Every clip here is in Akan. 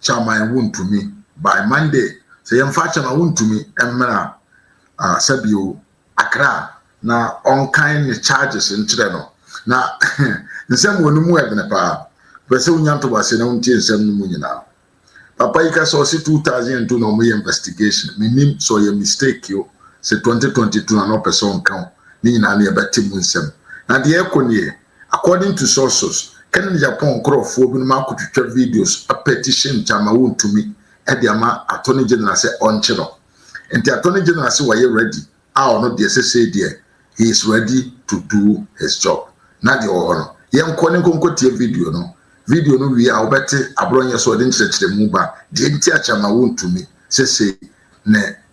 Chaman wontumi by Monday sɛ yɛmfa Chaman wontumi mmra ah sɛ bio Accra na ɔnkan ne charges nkyerɛ no na nsɛm wɔ no mu ɛdene paa mepɛ sɛ wonya ntoboaseɛ na wontie nsɛm no mu nyinaa papa yi ka sɛ ɔse 2002 na ɔmoyɛ investigation mennim sɛ ɔyɛ mistake yo sɛ 2022 na na ɔpɛ sɛ ɔnka o ne nyinaa no yɛbɛte mu nsɛm na deɛ ɛkɔ nie According to sources, kɛne ne Japan nkorɔfoɔ binom akɔtwitwa videos apɛtition nti ama wontumi de ama Attorney General sɛ ɔnkye no. Nti Attorney General se wayɛ ready a ɔno deɛ sesei deɛ he is ready to do his job. Na deɛ ɔwɔ hɔ no, yɛnkɔ ne nkɔnkɔtie video no. Video no wie a wobɛte aborɔnyɛ so ɔde nkyerɛkyerɛmu ba deɛ nti a kyɛ ama wontumi sesei ne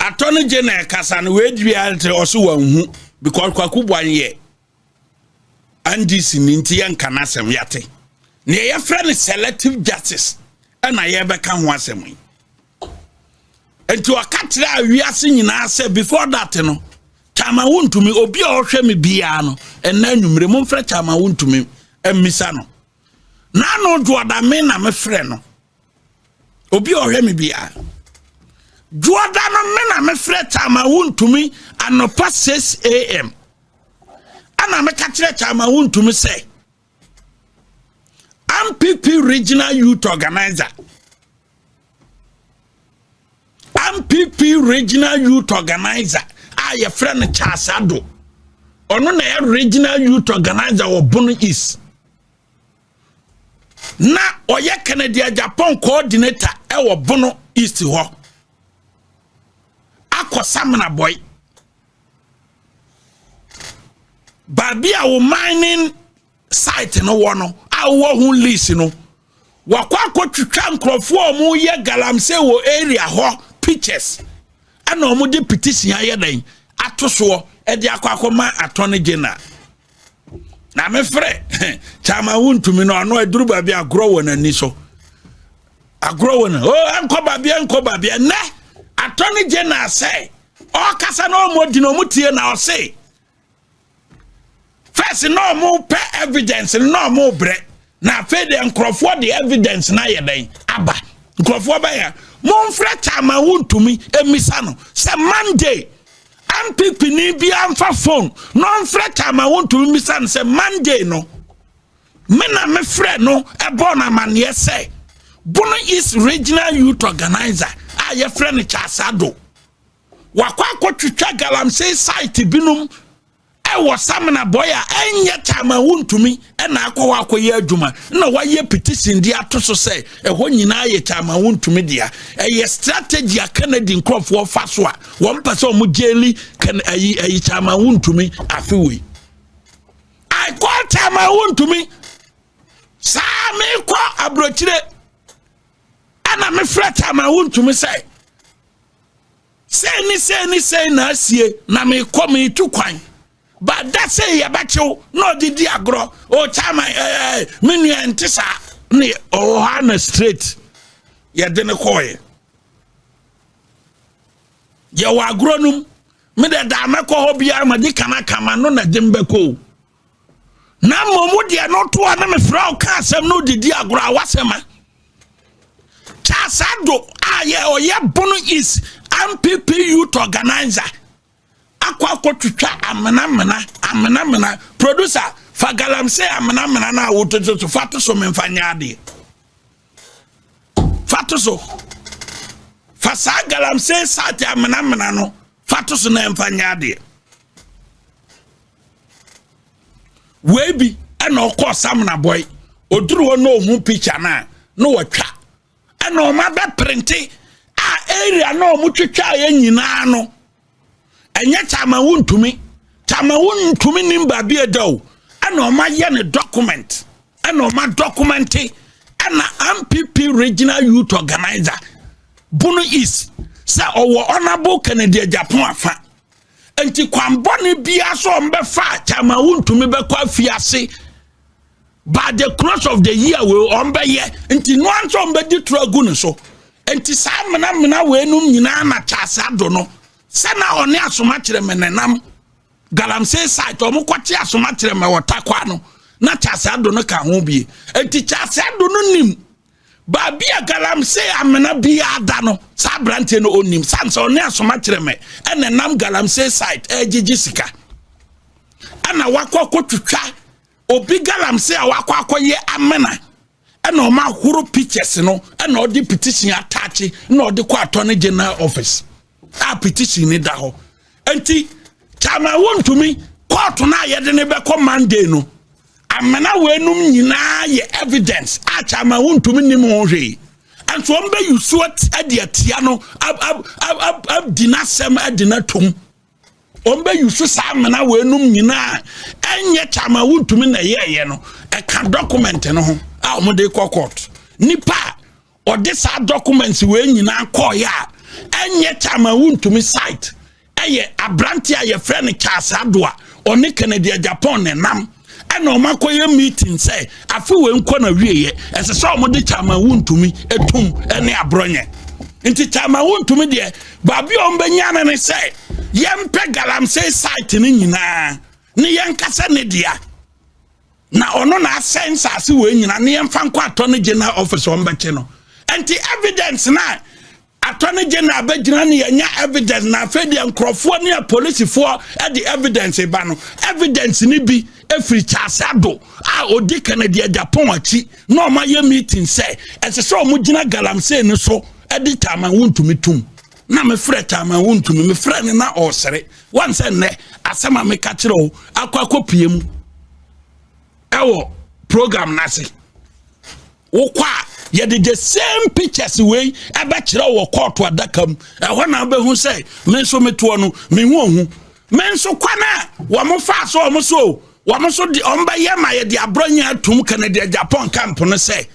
Atɔ no gye na ɛkasa no wei dwi a nti ɔso wanhu because kwaku bwan yɛ NDC ni nti yɛnka no asɛm yɛate neɛ yɛfrɛ no selective justice ɛna yɛbɛka ho asɛm yi nti ɔka kyerɛ a wiase nyinaa sɛ before that no kyama wontumi obi a ɔhwɛ me biara no ɛna anwummere momfrɛ kyama wontumi mmisa no n'ano dwoɔda me na mefrɛ no obi a ɔhwɛ me biara dwoɔda no me na mefrɛ kyama wontumi anɔpa 6 am ana meka kyerɛ kyama wontumi sɛ mpp regional youth organizer mpp regional youth organizer a yɛfrɛ no charles ado ɔno na ɛyɛ regional youth organizer wɔ bono east na ɔyɛ kennedy japan coordinator ɛwɔ bono east hɔ akɔ samina bɔe baabi a wo mining site no wɔ no a wowɔ ho lease no wakɔ akɔtwitwa nkurɔfoɔ a wɔyɛ galamsey wɔ area hɔ pictures ɛna wɔde petition ayɛ dɛn ato soɔ ɛde akɔ akɔma attorney general na mefrɛ kyama wontumi no ɔno aduru baabi agorɔ wɔ n'ani so agorɔ wɔ no o oh, ɛnkɔ baabi ɛnkɔ baabi ɛnɛ attorney general sɛ ɔkasa na ɔmɔ di na ɔmo tie na ɔse first na ɔmo pɛ evidence no na ɔmo brɛ na afei deɛ nkurɔfoɔ de evidence na ayɛ dɛn aba nkurɔfoɔ bɛyɛ monfrɛ taama wontumi emisa no sɛ monday mpp ni bi anfa phone na ɔnfrɛ taama wontumi misa no sɛ monday no me na mefrɛ no ɛbɔ no amanneɛ sɛ bono east regional youth organizer a yɛfrɛ no kyasado wakɔ akɔtwitwa galamsey site binom ɛwɔ samina bɔyɛ a ɛnyɛ kyama wontumi ɛna akɔ hɔ akɔyɛ adwuma na wayɛ petition de ato so sɛ ɛhɔ nyinaa yɛ kyama wontumi dea ɛyɛ strategy a kennedy nkurɔfoɔ fa so a wɔn mpɛ sɛ wɔn gyeli ayi ayi kyama wontumi afewei i call kyama wontumi saa mekɔ aburokyire ɛna mefrɛ tama wontumi sɛ sɛn ne sɛn ne sɛn na asie na mekɔ metu kwan ba da sɛ yɛbɛkyew na ɔde di agorɔ ɔtama ɛɛ me nua nte saa ne ɔwɔ hɔ na straight yɛde ne kɔɔeɛ yɛwɔ agorɔ nom me dɛ daa mɛkɔ hɔ biara ma de kana kama no na de mbɛkɔ o na mmom wo deɛ no to a na mefrɛ wo ka asɛm no didi agorɔ a wasɛm a Charles Ado a yɛ ɔyɛ Bono East MPP youth organizer akɔ akɔtwitwa amenamena amenamena producer fa galamsey amenamena no a wototo so fa to so memfa nyɛ adeɛ fa to so fa saa galamsey sate amenamena no fa to so na ɛmfa nyɛ adeɛ wei bi ɛna ɔkɔ samina bɔi oduru hɔ na ohun pikya na na wɔtwa ɛna wɔn abɛ printe a area na wɔn twitwa yɛ nyinaa no ɛnyɛ kyamawu ntumi kyamawu ntumi nim baabi ɛda o ɛna wɔn ayɛ ne document ɛna wɔn adɔkumɛnte ɛna npp regional youth organizer bono east sɛ ɔwɔ honourable kennedy agyapong afa. nti kwan bɔne biara so wɔn bɛfa time a wontumi bɛkɔ afiase by the close of the year wei wɔn bɛyɛ nti noa nso wɔn bɛdi toro agu ne so nti saa menamena weinom nyinaa na kyaase ado no sɛ na ɔne asomakyerɛ me nenam galamsey site wɔn kɔte asomakyerɛ mɛ wɔ takwa no na kyaase ado no ka ho bie nti kyaase ado no nim. Baabi a galamsey amena biara da no, saa aberanteɛ no ɔnnim. Sane sɛ ɔne asomakyerɛmɛ ɛna ɛnam galamsey site ɛregyegye sika. Ɛna wakɔ akɔtwitwa obi galamsey a wakɔ akɔyɛ amena. Ɛna ɔma ahoro pictures no ɛna ɔde petition ataakye na ɔde kɔ attorney general office. a petition ne da hɔ nti kyama wontumi kɔɔto no a yɛde ne bɛkɔ monday no amena wɔanum nyinaa yɛ evidence a kyama wontumi nim ho hwee nso wɔn bɛ yusu ɛde atia no abdi n'asɛm ɛde n'atum wɔn bɛ yusu saa amena wɔanum nyinaa ɛnyɛ kyama wontumi na ɛyɛ ɛyɛ no ɛka document no ho a wɔn de kɔ court nipa a. ɔde saa documents wei nyinaa kɔɔeɛ a ɛnyɛ kyama wontumi site ɛyɛ aberante a yɛfrɛ no charles adoa ɔne kennedy japan ne nam ɛna wɔn akɔyɛ meeting sɛ afe wei nkɔ na wieɛ ɛsɛ sɛ wɔn de kyama wontumi etum ɛne aborɔnyɛ nti kyama wontumi deɛ baabi a wɔn bɛnya no ne sɛ yɛmpɛ galamsey site no nyinaa ne yɛnkasa ne dea. na ɔno na asɛe nsase wɔ nyina ne yɛmfa nkɔ atɔ no general office ɔmbɛkye no nti evidence na atɔ no general bɛgyina ne yɛnya evidence na afei deɛ nkurɔfoɔ ne apolisifoɔ de evidence ba no evidence no bi ɛfiri kyase ado a ɔdi kennedy agyapɔn akyi na ɔma yɛ meeting sɛ ɛsɛ sɛ ɔmo gyina galamsey no so de taman wontumi tom na mefrɛ kyaman wo ntumi mefrɛ no na ɔresere wɔn sɛ nnɛ asɛm a meka kyerɛ wo akɔ akɔpie mu ɛwɔ program no ase wokɔ a yɛde the same pictures wei ɛbɛkyerɛ wɔ kɔɔto adaka mu ɛhɔ na wobɛhu sɛ me nso metoɔ no mehu ohu me nso kwan a wɔn fa so wɔn so wɔn nso de wɔn bɛyɛ ma yɛde aborɔ nyɛ atum kanadiɛ japan camp no sɛ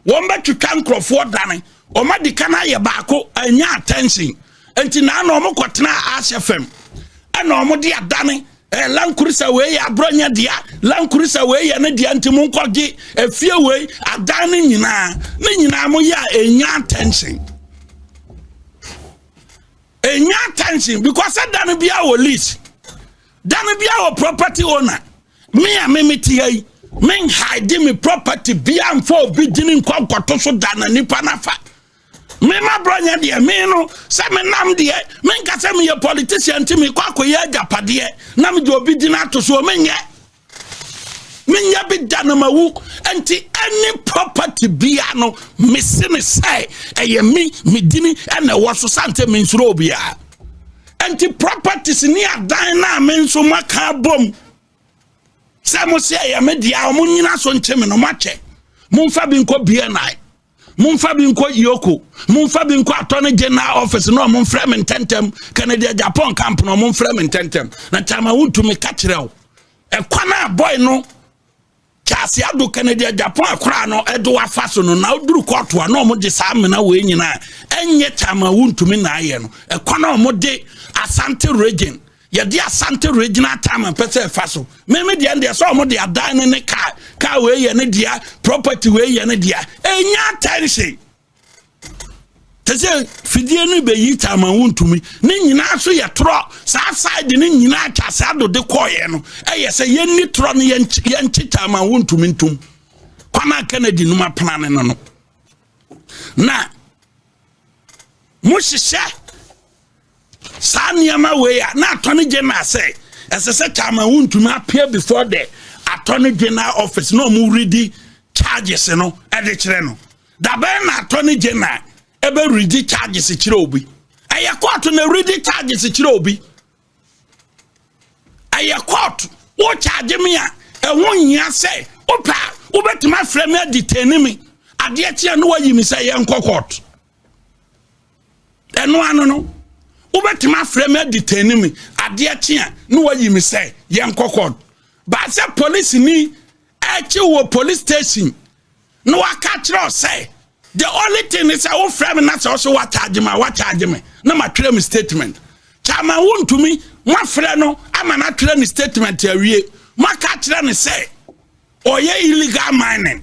wɔn bɛtwitwa nkurɔfoɔ dane Wɔn adi kan ayɛ baako anya attention nti na na wɔn kɔ tena ahyɛ fam ɛna wɔn de adane ɛɛ eh, lankurisa wei yɛ aburanya dea lankurisa wei yɛ ne dea nti mo nkɔ gye efie eh, wei adan ne nyinaa ne nyinaa mo yɛ a enya attention enya attention because ɛdan biara wɔ lease dan biara wɔ property owner. me a me mete ha yi menhaede me property bia mfa obi gyini nkɔ nkɔto so da na nipa no afa mema borɔnyɛ deɛ me no sɛ menam deɛ menka sɛ meyɛ politician nti mekɔ akɔyɛ agyapadeɛ na mede obi gyina ato soɔ menyɛ menyɛ bi da na mawu nti any property bia no mese ne sɛ ɛyɛ me medini ɛna ɛwɔ so sane sɛ mensuro obiaa nti properties ne adan no a me nso moaka abom sɛ mo sɛ ɛyɛ me deɛ a monyina so nkye me no moakyɛ momfa bi nkɔ bni momfa bi nkɔ yoko momfa bi nkɔ attorney general office na ɔmomfrɛ me ntɛntɛm kanadia japan camp na ɔmomfrɛ me ntɛntɛm na kyama wontumi ka kyerɛ wo ɛkwan a bɔe no Kyase ado ka no deɛ Japan akora no ɛdo afa so no na oduru kɔɔto a na wɔn de saa amena wei nyinaa ɛnyɛ kyama wuntumi na ayɛ no ɛkɔ na wɔn de asante region yɛde asante regional time pɛ sɛ ɛfa so mɛmi deɛ deɛ sɛ wɔn de adan ne ne kaa kaa wei yɛ ne deɛ property wei yɛ ne deɛ ɛnya attention. te sɛ fidie no bɛyi taama wo ntumi ne nyinaa so yɛ torɔ saa side no nyinaa twa saa dode kɔɔyɛ no ɛyɛ sɛ yɛnni torɔ no yɛnkye taama wo ntumi ntom kwana kennedy nom apena ne no no na mohyehyɛ Saa nneɛma wei a na atɔ ne general sɛ ɛsɛ sɛ chairman wo ntumi appear before the atɔ ne general office na ɔmo redi charges no ɛde kyerɛ no dabɛn na atɔ ne general ɛbɛ redi charges kyerɛ obi ɛyɛ court na redi charges kyerɛ obi ɛyɛ court wo charge me a ɛho nyia sɛ wopɛ a wobɛtumi afrɛ me adetɛni me adeɛ kyeɛ no wayi me sɛ yɛnkɔ court ɛno ano no wobɛtumi afrɛ me adetani me adeɛ kye a na wayi me sɛ yɛnkɔ kɔd baa sɛ polisini akyi wɔ police station na waka kyerɛ sɛ the only thing ne sɛ wofrɛ me na sɛ ɔsɛ wakyagye me a wakyagye me na matwerɛ me statement kyama wontumi moafrɛ no ama no atwerɛ ne statement awie moaka kyerɛ ne sɛ ɔyɛ illegal mining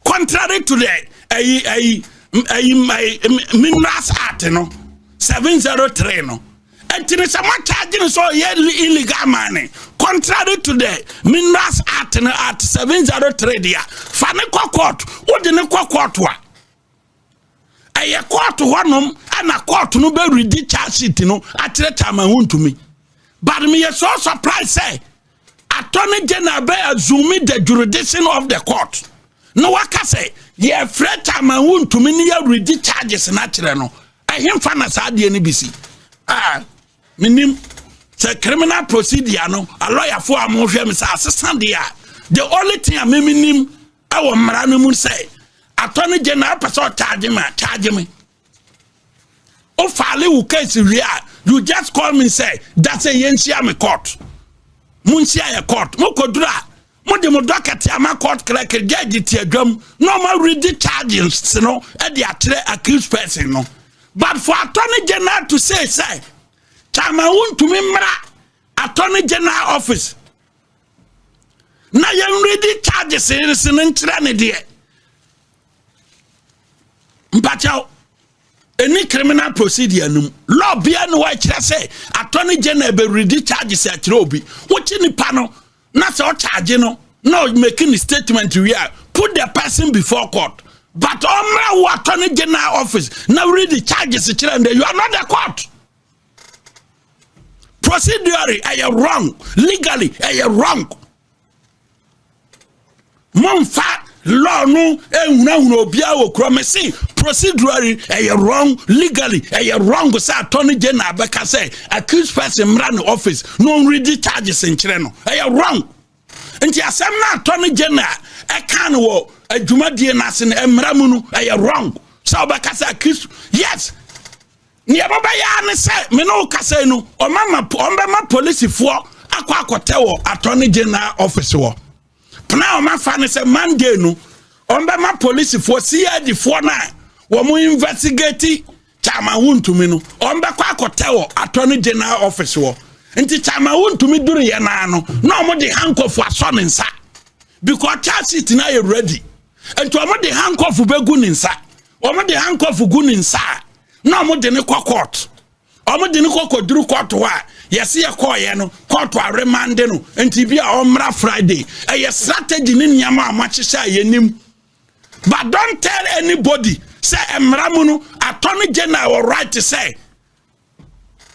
contrary to the ɛyi ɛyi ɛyi ɛyi minerals act no seven zero three no ɛtini sɛ mo charge no sɛ ɔyɛ illegal mining contrary to the minerals act no act seven zero three deɛ fa ne kɔ court wode ne kɔ court a. ɛyɛ court hɔnom ɛna court no bɛ redi charge sheet no akyerɛ chairman ho ntumi but me yɛ so surprise sɛ attorney general bɛ assume the jurisdiction of the court na waka sɛ yɛfrɛ chairman ho ntumi ne yɛ redi charges no akyerɛ no ɛhemfa na saa adeɛ no bi si ah menim sɛ criminal procedure no alɔyafoɔ a mohwɛ me sɛ asesa deɛ a the only thing a memenim ɛwɔ mmara no mu sɛ atɔ no gye na apɛ sɛ ɔtaagye me a taagye me wofaale wo case wie a you just call me sɛ da sɛ yɛnhyia me court monhyia yɛ court mokɔduru a mo de mo dɔ kɛtɛ ama court clerk judge ti adwam na ɔma ready charges no de akyerɛ accused person no but for attorney general to say sɛ chairman wontumi mmra attorney general office na yɛn ready charges nse no nkyerɛ ne deɛ mpakyɛw ɛni criminal procedure no mu law bia ne hɔ ɛkyerɛ sɛ attorney general bɛ ready charges akyerɛ obi wokye nipa no na sɛ ɔcharge no na ɔmaki ne statement wie a put the person before court but ɔmmra wo attorney general office na read the charges kyerɛ ndɛ you are not the court procedurally ɛyɛ wrong legally ɛyɛ wrong Momfa law no nhunahuna obiara wɔ kura mese procedurally ɛyɛ wrong legally ɛyɛ wrong sɛ attorney general bɛka sɛ accused person mmra ne office na ɔnredi charges nkyerɛ no ɛyɛ wrong nti asɛm no attorney general ɛka no wɔ adwumadie no ase no mmara mu no ɛyɛ wrong sɛ ɔbɛka sɛ accused yes nea ɛbɛbɛyɛ ne sɛ me ne wo kasa yi no ɔmama ɔmbɛma polisifoɔ akɔ akɔtɛ wɔ attorney general office wɔ Pena a wɔafa no sɛ Monday no, wɔbɛma polisifoɔ CID foɔ no a wɔn investigate Chairman Wontumi no, wɔbɛkɔ akɔtɛ wɔ Attorney General office wɔ. Nti Chairman Wontumi duruyɛ naa no, na wɔn de handcuff asɔ ne nsa because charge sheet no ayɛ ready. Nti wɔn de handcuff bɛgu ne nsa, wɔn de handcuff gu ne nsa a, na wɔn de ne kɔ court. Wɔn de no kɔ kɔduru kɔɔto hɔ a yɛsi yɛ kɔɔyɛ no kɔɔto a remande no nti bi a ɔmmra Friday ɛyɛ strategy ne nneɛma a wɔahyehyɛ a yɛnim but don't tell anybody sɛ mmara mu no attorney general wɔ right sɛ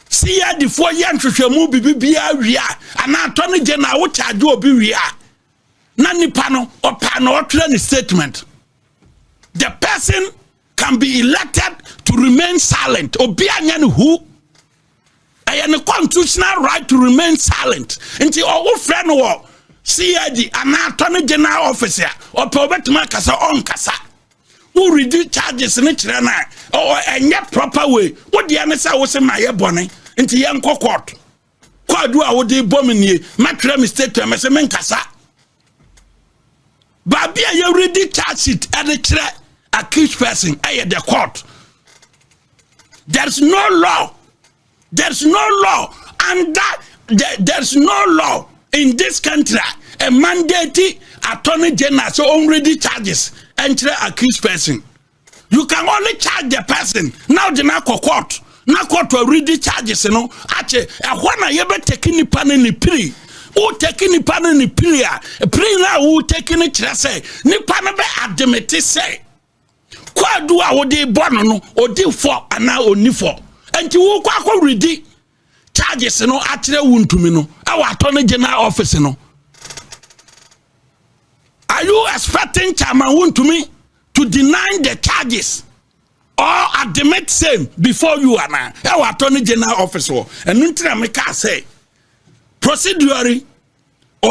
si yɛ adifoɔ yɛ nhwehwɛmu bibibiara wie a anaa attorney general wo charge obi wie a na nipa no ɔpaa na ɔtwerɛ ne statement the person can be elected to remain silent obi anyɛ ne hu ɛyɛ ne constitutional right to remain silent nti ɔwo frɛ no wɔ cid anaa attorney general office a ɔpɛ ɔbɛtumi akasa ɔnkasa woredi charges ne kyerɛ no a ɛnyɛ proper way wodeɛ ne sɛ wo se ma yɛ bɔne nti yɛnkɔ court Kwadu a wode bɔ me nie mɛtwerɛ me statement mɛsɛ menkasa baabi a yɛredi charge sheet ɛde kyerɛ accused person ɛyɛ the court there's no law there's no law and that there, there's no law in this country a mandate attorney general sɛ ɔnredi charges ɛnkyerɛ accused person You can only charge the person na ɔde no akɔ court na court already charges no akye ɛhɔ na yɛbɛtɛki nipa no ne piri wotɛki nipa no ne piri a piri no a wotɛki no kyerɛ sɛ nipa no bɛ ademete sɛ kwaadu a wode bɔ no no ɔdi fɔ anaa ɔnni fɔ nti wokɔ akɔ redi charges no akyerɛ wo ntumi no ɛwɔ attorney general office no are you expecting chairman wo ntumi to deny the charges or admit same before you ana ɛwɔ attorney general office wɔ ɛno ntina meka sɛ procedure